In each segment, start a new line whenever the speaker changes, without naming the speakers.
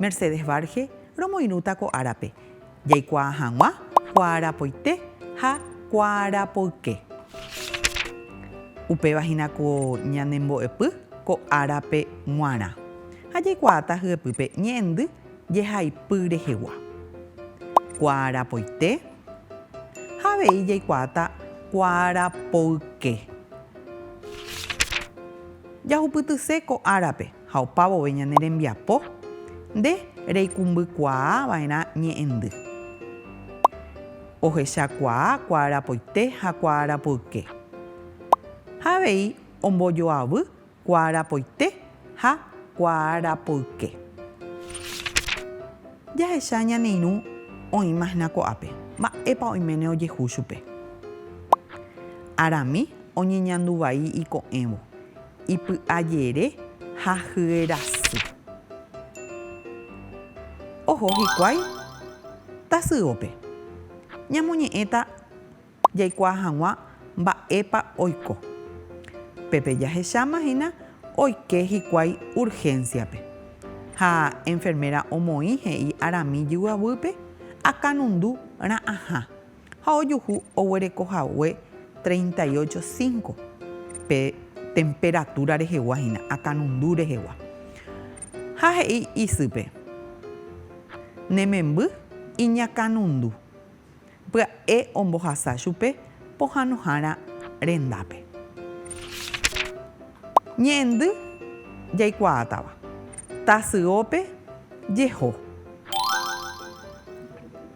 Mercedes Varge romoirũta ko árape, jaikuaa hag̃ua kuaarapoite ha kuaarapoyke. Upéva hína ko ñane mbo'epy ko árape g̃uarã, ha jaikuaáta hyepýpe ñe'ẽndy jehaipy rehegua. Kuaarapoite ha avei jaikuaáta kuaarapoyke. Jahupytyse ko árape. ha opavove ñane rembiapo, nde reikumbykuaava'erã ñe'ẽndy. Ohechakuaa kuaarapoite ha kuaarapoyke. Ha avei ombojoavy kuaarapoite ha kuaarapoyke. Jahecha ñane irũ oĩma hína ko'ápe, mba'épa oiméne ojehu chupe. Arami oñeñandu vai iko'ẽvo, Ipy'ajere ha hyerasy. Oho hikuái tasyópe. Ñamoñe'ẽta jaikuaa hag̃ua mba'épa oiko. Pépe jahecháma hína oike hikuái urgénsiape. Ha enferméra omoĩ he'i arami jyguaguýpe akanundu ra'ãha ha ojuhu oguereko hague treinta y ocho, cinco pe temperatura rehegua hína, akanundu rehegua. Ha he'i isýpe, Ne memby iñakanundu, pya'e ombohasa chupe pohanohára rendápe. Ñe'ẽndy jaikuaátava, tasyópe jeho.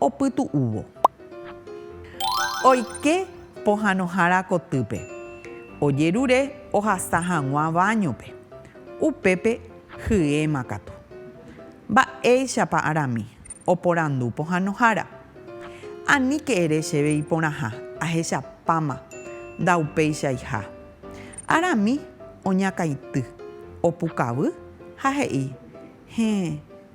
opytu'úvo. Oike pohãnohára kotýpe, ojerure ohasa hag̃ua váñope. Upépe hyéma katu. Mba'éichapa arami? oporandu pohãnohára. Aníke ere chéve iporãha, ahechapáma, ndaupeichaiha. Arami oñakãity, opukavy ha he'i, Héẽ.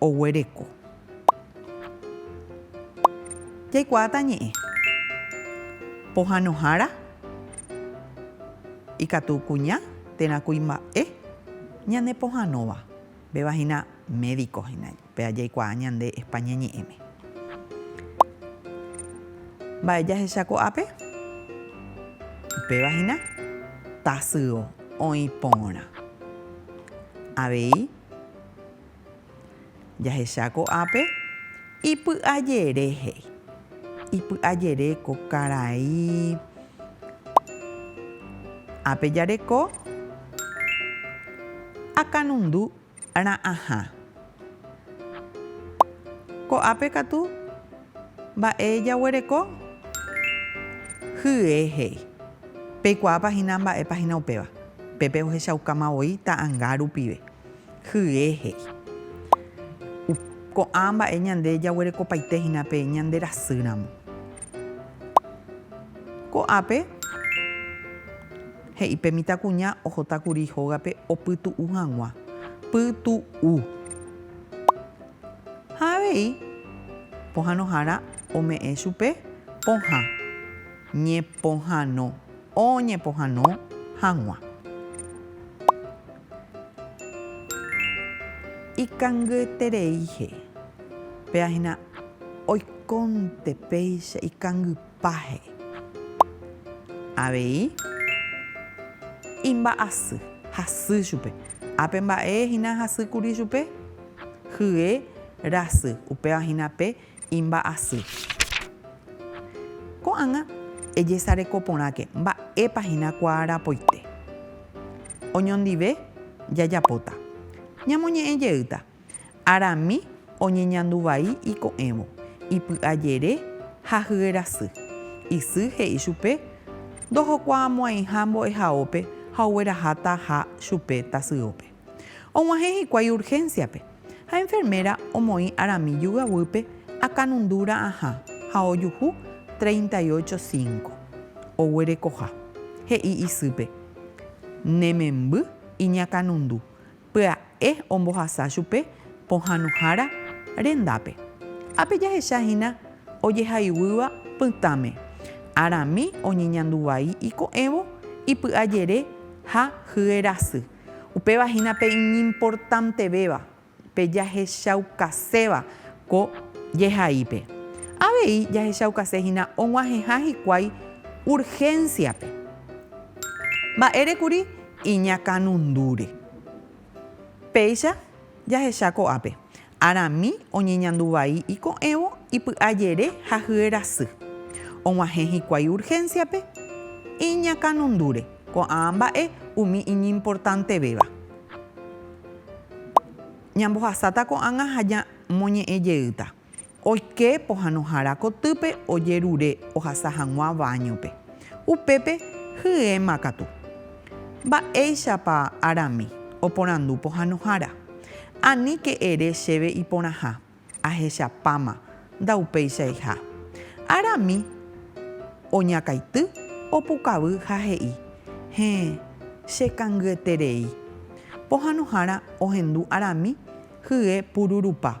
oguereko. Jaikuaáta ñe'ẽ. Pohãnohára ikatu kuña térã kuimba'e ñane pohãnóva. Upéva hína médiko hína, péva jaikuaa ñande España ñe'ẽme. Mba'e jahecha ko'ápe? Upéva hína tasyo oĩ porã. Avei. Jahecha ko'ápe, ipy'ajere he'i. Ipy'ajere ko karai ápe jareko akanundu ra'ãha. Ko'ápe katu mba'e jaguereko? Hye he'i. Peikuaápa hína mba'épa hína upéva. Pépe ohechaukáma voi ta'anga rupive. Hye he'i. Ko'ã mba'e ñande jaguerekopaite hína pe ñande rasy ramo. Ko'ápe he'i pe mitãkuña ohota kuri hógape opytu'u hag̃ua. Pytu'u. Ha avei pohanohára ome'ẽ chupe pohã. Ñepohãno. oñepohãno hag̃ua. Ikangyetereíhe, péva hína oikónte péicha ikangypáhe. Avei imba'asy, hasy chupe. Ápe mba'e hína hasy kuri chupe? Hye rasy, upéva hína pe Imba'asy. Ko'ág̃a ejesareko porãke mba'épa hína kuaarapoite. Oñondive jajapóta. Ñamoñe'ẽ jeýta, Arami oñeñandu vai iko'ẽvo, ipy'ajere ha hyerasy. Isy he'i chupe ndohokuaamo'ãiha mbo'ehaópe ha oguerahátaha chupe tasyópe. Og̃uahẽ hikuái urgénsiape, ha enferméra omoĩ arami jugaguýpe akanundu ra'ãha ha ojuhu treinta y ocho cinco oguerekoha. He'i isýpe, Ne memby iñakanundu, pya'e ombohasa chupe pohãnohára rendápe. Ápe jahecha hína ojehaiguýva pytãme, arami oñeñandu vai iko'ẽvo ipy'ajere ha hyerasy. Upéva hína pe iñimportantevéva, pe jahechaukaséva ko jehaípe. Avei jahechaukase hína og̃uahẽha hikuái urgénsiape. Mba'ére kuri iñakãnundúre. Péicha jahecha ko'ápe. Arami oñeñandu vai iko'ẽvo ipy'ajere ha hyerasy. Og̃uahẽ hikuái urgénsiape iñakãnondúre ko'ã mba'e umi iñimportantevéva. Ñambohasáta ko'ág̃a ha ñamoñe'ẽ jeýta. Oike pohãnohára kotýpe ojerure ohasa hag̃ua váñope. Upépe hyéma katu. Mba'éichapa Arami oporandu pohãnohára? Aníke ere chéve iporãha, ahechapáma, ndaupéichaiha. Ára mi oñakaity, opukavy ha he'i, Héẽ, che kangyeterei. Pohãnohára ohendu arami hye pururupa.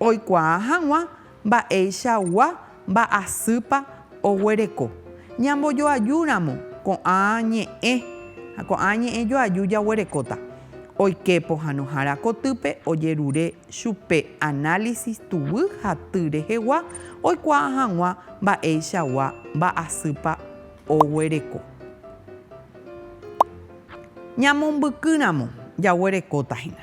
Oikuaa hag̃ua mba'eichagua mba'asýpa oguereko. Ñambojoajúramo ko'ã ñe'ẽ ha ko'ã ñe'ẽ joaju jaguerekóta. Oike pohãnohára kotýpe ojerure chupe análisis tuguy ha ty rehegua oikuaa hag̃ua mba'eichagua mba'asýpa oguereko. Ñamombykýramo jaguerekóta hína.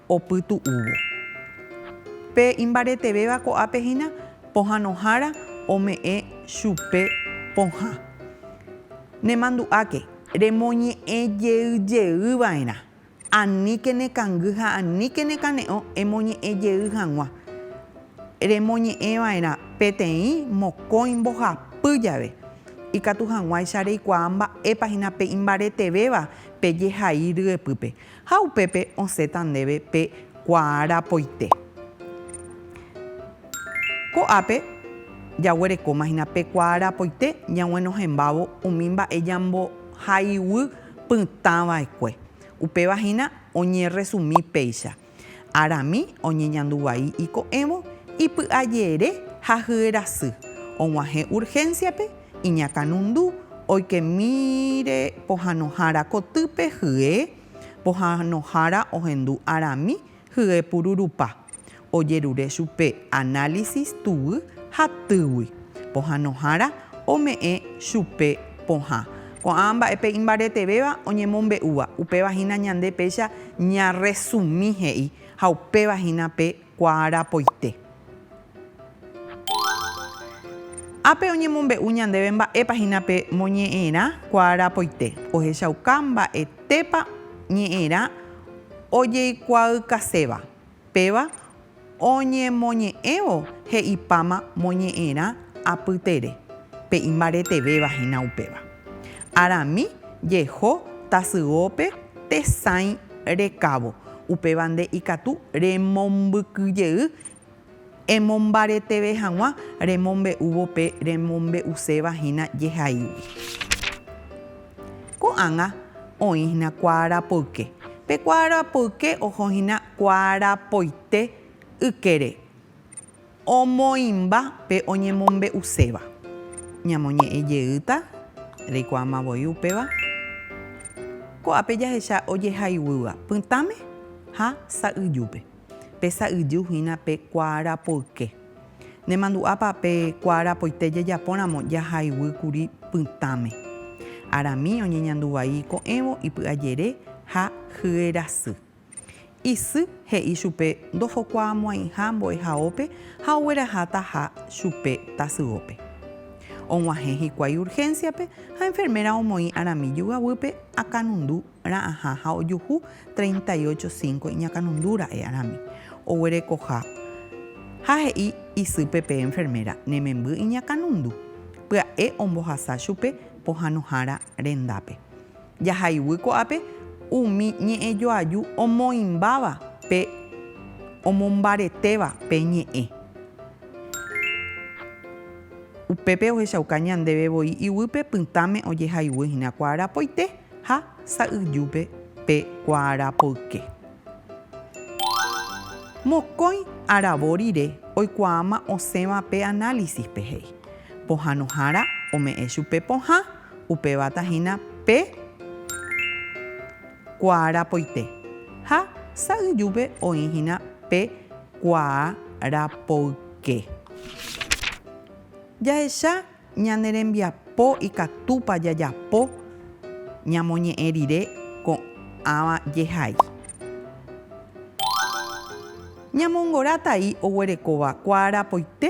opytu'úvo. Pe imbaretevéva ko'ápe hína pohãnohára ome'ẽ chupe pohã. Nemandu'áke. Remoñe'ẽ jey jey va'erã. Aníke nekangy ha aníke nekane'õ emoñe'ẽ jey hag̃ua. Remoñe'ẽ va'erã peteĩ mokõi mbohapy jave. Ikatu hag̃uáicha reikuaa mba'épa hína pe imbaretevéva pe jehai ryepýpe. Ha upépe osẽta ndéve pe kuaarapoite. Ko'ápe jaguerekóma hína pe kuaarapoite ñaguenohẽmbávo umi mba'e ñambohaiguy pytãva'ekue. Upéva hína oñerresumi péicha, Arami oñeñandu vai iko'ẽvo, ipy'ajere ha hyerasy, og̃uahẽ urgénsiape, iñakãnundu oikemíre pohanohára kotýpe hye pohanohára ohendu arami hye pururupa, ojerure chupe análisis tuguy ha týgui pohanohára ome'ẽ chupe pohã. Ko'ã mba'epe imbaretevéva oñemombe'úva, upéva hína ñande péicha ñarresumi he'i ha upéva hína pe kuaarapoite. Ápe oñemombe'u ñandéve mba'épa hína pe moñe'ẽrã kuaarapoite. Ohechauka mba'etépa ñe'ẽrã ojeikuaaukaséva. Péva oñemoñe'ẽvo he'ipáma moñe'ẽrã apytere, pe imbaretevéva hína upéva. Arami jeho tasyópe tesãi rekávo, Upéva nde ikatu remombykyjey emombareteve hag̃ua remombe'úvo pe remombe'uséva hína jehaígui. Ko'ág̃a oĩ hína kuaarapoyke. Pe kuaarapoyke oho hína kuaarapoite ykére. Omoĩmba pe oñemombe'uséva. Ñamoñe'ẽ jeýta, reikuaáma voi upéva. Ko'ápe jahecha ojehayhúva pytãme ha sa'yjúpe. Pe sa'yju hína pe kuaarapoyke. Nemandu'ápa pe kuaarapoite jajapóramo jahayhúy kuri pytãme. Arami oñeñandu vai ko'ẽvo ipy'ajere ha hyerasy. Isy he'i chupe ndofokuaamo'ãiha mbo'ehaópe ha oguerahataha chupe tasyópe. Og̃uahẽ hikuái urgénsiape ha enferméra omoĩ arami jugaguýpe akanundu ra'ãha ha ojuhu treinta y ocho cinco iñakanundu ra'e arami. Oguerekoha ha he'i isýpe pe enferméra ne memby iñakanundu, pya'e ombohasa chupe pohãnohára rendápe. Jahayguy ko'ápe umi ñe'ẽjoaju omoĩmbáva pe omombaretéva pe ñe'ẽ. Upépe ohechauka ñandéve voi iguýpe pytãme ojehayguy hína kuaarapoite ha sa'yjúpe pe kuaarapoyke. Mokõi aravo rire oikuaáma osẽva pe análisispe he'i. Pohãnohára ome'ẽ chupe pohã, upévata hína pe kuaa rapoite, ha sa'yjúpe oĩ hína pe kuaa rapoyke. Jahecha ñane rembiapo ikatúpa jajapo ñamoñe'ẽ rire ko'ãva jehai. Ñamongora tai oguerekóva kuaa rapoite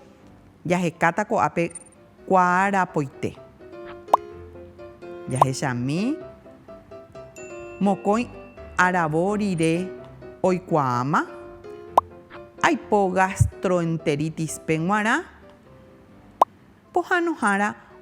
Jahekáta ko'ápe kuaarapoite. Jahechami mokõi aravo rire oikuaáma, aipo gastroenteritis-pe g̃uarã pohãnohára.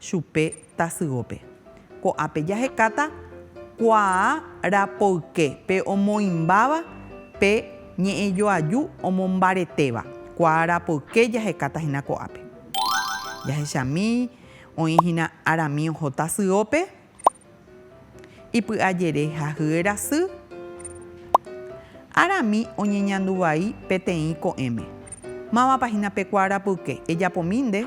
chupe tasyópe. Ko'ápe jahekáta kuaa rapoyke pe omoĩmbáva pe ñe'ẽjoaju omombaretéva. Kuaa rapoyke jahekáta hína ko'ápe. Jahechami, oĩ hína arami oho tasyópe. Ipy'ajere ha hyerasy. Arami oñeñanduvai peteĩ ko'ẽme. Mávapa hína pe kuaarapyke, ejapomi nde?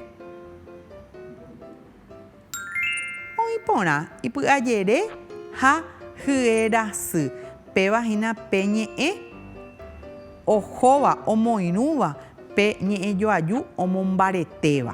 Oĩ porã, ipy'ajere ha hyerasy. Péva hína pe ñe'ẽ ohóva, omoirũva, pe ñe'ẽjoaju omombaretéva.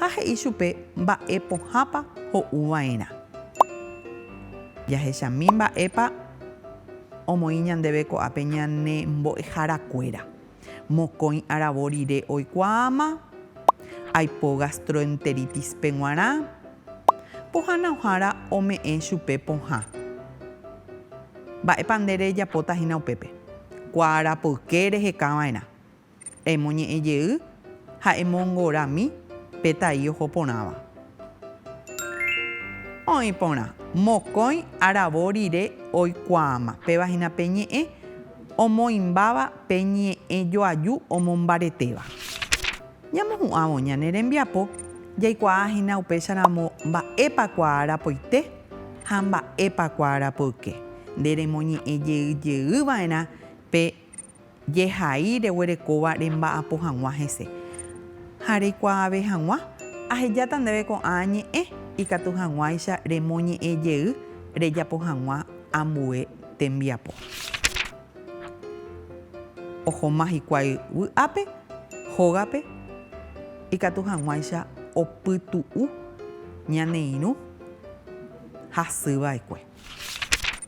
Ha he'i chupe mba'e pohãpa ho'u va'erã. Jahechami mba'épa omoĩ ñandéve ko'ápe ñane mbo'ehára kuéra. Mokõi aravo rire oikuaáma, aipo gastroenteritispe guarã, pohãna ohára ome'ẽ chupe pohã. Mba'épa nde rejapóta hína upépe? Kuaarapoyke reheka va'erã. Emoñe'ẽ jey ha emongorami pe tai oho porãva. Oĩ porã, mokõi aravo rire oikuaáma, péva hína pe ñe'ẽ omoĩmbáva pe ñe'ẽ joaju omombaretéva. Ñamohu'ãvo ñane rembiapo, jaikuaa hína upécharamo mba'épa kuaarapoite ha mba'épa kuaarapoyke. Nde remoñe'ẽ jey jey va'erã pe. Jehai reguerekóva remba'apo hag̃ua hese, ha reikuaave hag̃ua, ahejáta ndéve ko'ã ñe'ẽ, ikatu hag̃uáicha remoñe'ẽ jey rejapo hag̃ua ambue tembiapo. Ohoma hikuái vy'ápe, hógape, ikatu hag̃uáicha opytu'u ñane irũ hasyva'ekue.